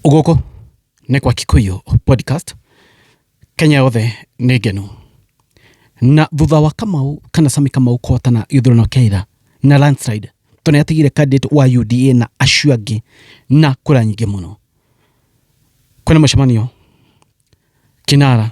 Gũkũ nĩ gwa Kikuyu Podcast, Kenya yothe nĩ ngenu. Na thutha wa Kamau kana Sami Kamau kũhotana gĩthurano kĩa ira na landslide, tondũ nĩ atigire candidate wa UDA na acio angĩ na kura nyingĩ mũno, kwĩna mũcemanio Kinara.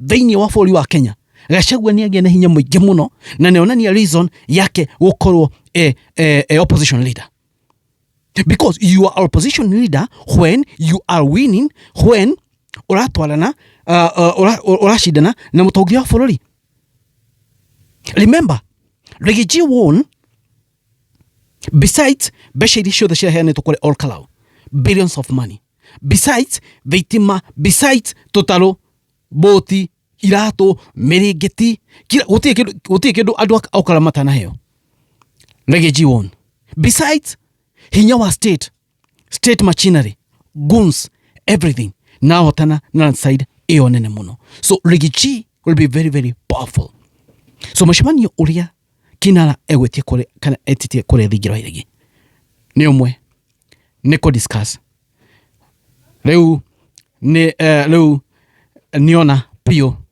thĩinĩ wa bũrũri wa Kenya Gachagua nĩ agĩa na hinya mũingĩ mũno na nĩ onania reason yake gũkorwo e, e, e opposition leader because you are opposition leader when you are winning when uratwarana uh, uh, uracindana na mutongoria wa bururi remember Rigiji won Besides, besha iria ciothe ciaheanĩtwo kũrĩ All Kalau, billions of money. Besides, thitima, besides, tũtarũ, boti, iratũ, mĩrĩngĩti, kira gũtirĩ kĩndũ gũtirĩ kĩndũ andũ a All Kalau matanaheo. Reggae G1. Besides, hinya wa state state machinery guns everything nahotana na landslide ĩyo nene mũno so rigichi will be very very powerful so mũcemanio ũrĩa kinara egwĩtie kũrĩ kana etitie kũrĩa thingira wa iregi nĩ ũmwe nĩ kũ discuss rĩu nĩ eh, rĩu niona biũ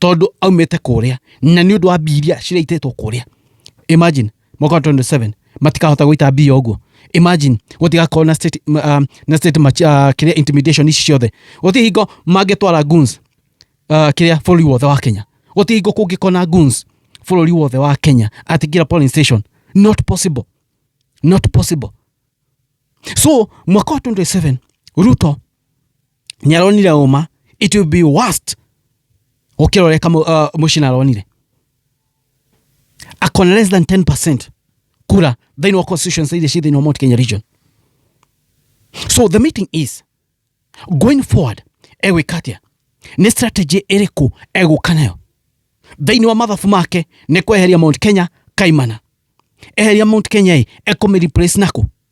tondå aumä te kå rä a na nä å ndå wa mbia iria ciraitĩtwo kå rä a imagine mwaka wa 27 matikahota gũita mbia ũguo imagine gũtigakorwo na state, m- um, na state match, uh, kĩrĩa intimidation ici ciothe gũtirĩ hingo mangĩtwara guns uh, kĩrĩa bũrũri wothe wa kenya gũtirĩ hingo kũngĩkona guns bũrũri wothe wa kenya at kira polling station not possible not possible so mwaka wa 27 ruto nĩaronire ũma it will be worst gũkĩra ũrĩa Kamau- uh, mũcina aronire akona less than 10 kura thĩinĩ wa constituency iria ciĩ thĩinĩ wa mount kenya region so the meeting is going forward egwĩka atĩa nĩ strategy ĩrĩkũ egũka nayo thĩinĩ wa mathabu make nĩ kweheria mount kenya kaimana eheria mount kenya ĩ ekũmĩreplace nako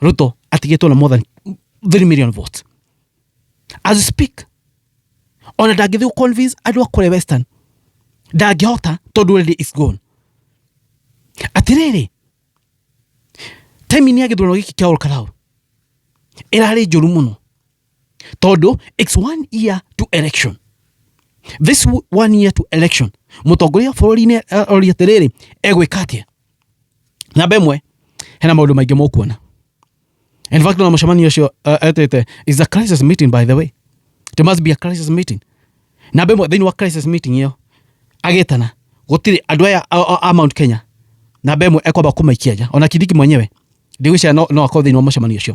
Ruto atigĩtwo na more than 3 million votes as we speak ona ndangĩthiĩ convince andũ a kũrĩa western ndangĩhota tondũ already is gone atirĩrĩ time-inĩ ya gĩthurano gĩkĩ kĩa Olkarau ĩrarĩ njũru mũno tondũ it's one year to election this w- one year to election mũtongoria wa bũrũri-inĩ arori atĩrĩrĩ egwĩka atĩa namba ĩmwe hena maũndũ maingĩ mũkuona in fact ona mũcemanio ũcio uh, etĩte is a crisis meeting by the way it must be a crisis meeting namba ĩmwe thĩinĩ wa crisis meeting ĩyo agĩtana gũtirĩ andũ aya a- a- a mount kenya namba ĩmwe ekwamba kũmaikia nja ona kindiki mwenyewe ndigwĩciria no, no akorwo thĩinĩ wa mũcemanio ũcio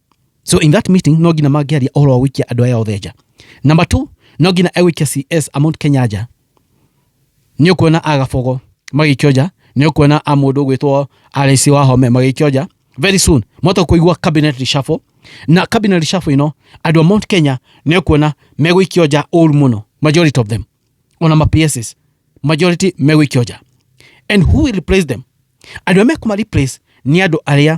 so in that meeting no nginya mangĩaria ũhoro wa gũikia andũ aya othe nja number two no nginya egũikia cs amount kenya nja nĩ ũkuona agabogo magĩikio nja nĩ ũkuona a mũndũ ũgwĩtwo RIC wa home magĩikio nja very soon mwata kũigua cabinet reshuffle na cabinet reshuffle ĩno andũ a mount kenya nĩ ũkuona megũikio nja ũru mũno majority of them ona ma pss majority megũikio nja and who will replace them andũ arĩa mekũma replace nĩ andũ arĩa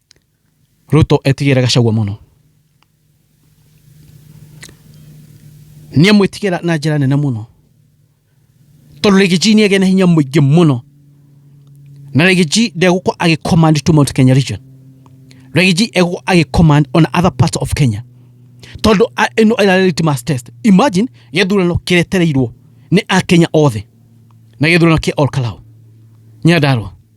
Ruto etigĩra Gachagua mũno nĩ amwĩtigĩra na njĩra nene mũno tondũ Rigiji nĩ agĩa na hinya mũingĩ mũno na Rigiji ndegũkorwo agĩcommand to Mount Kenya region Rigiji egũkorwo agĩcommand on other parts of Kenya tondũ a- ĩno ĩrarĩ litmus test imagine gĩthurano kĩretereirwo nĩ akenya othe na gĩthurano kĩa Olkalau Nyandarua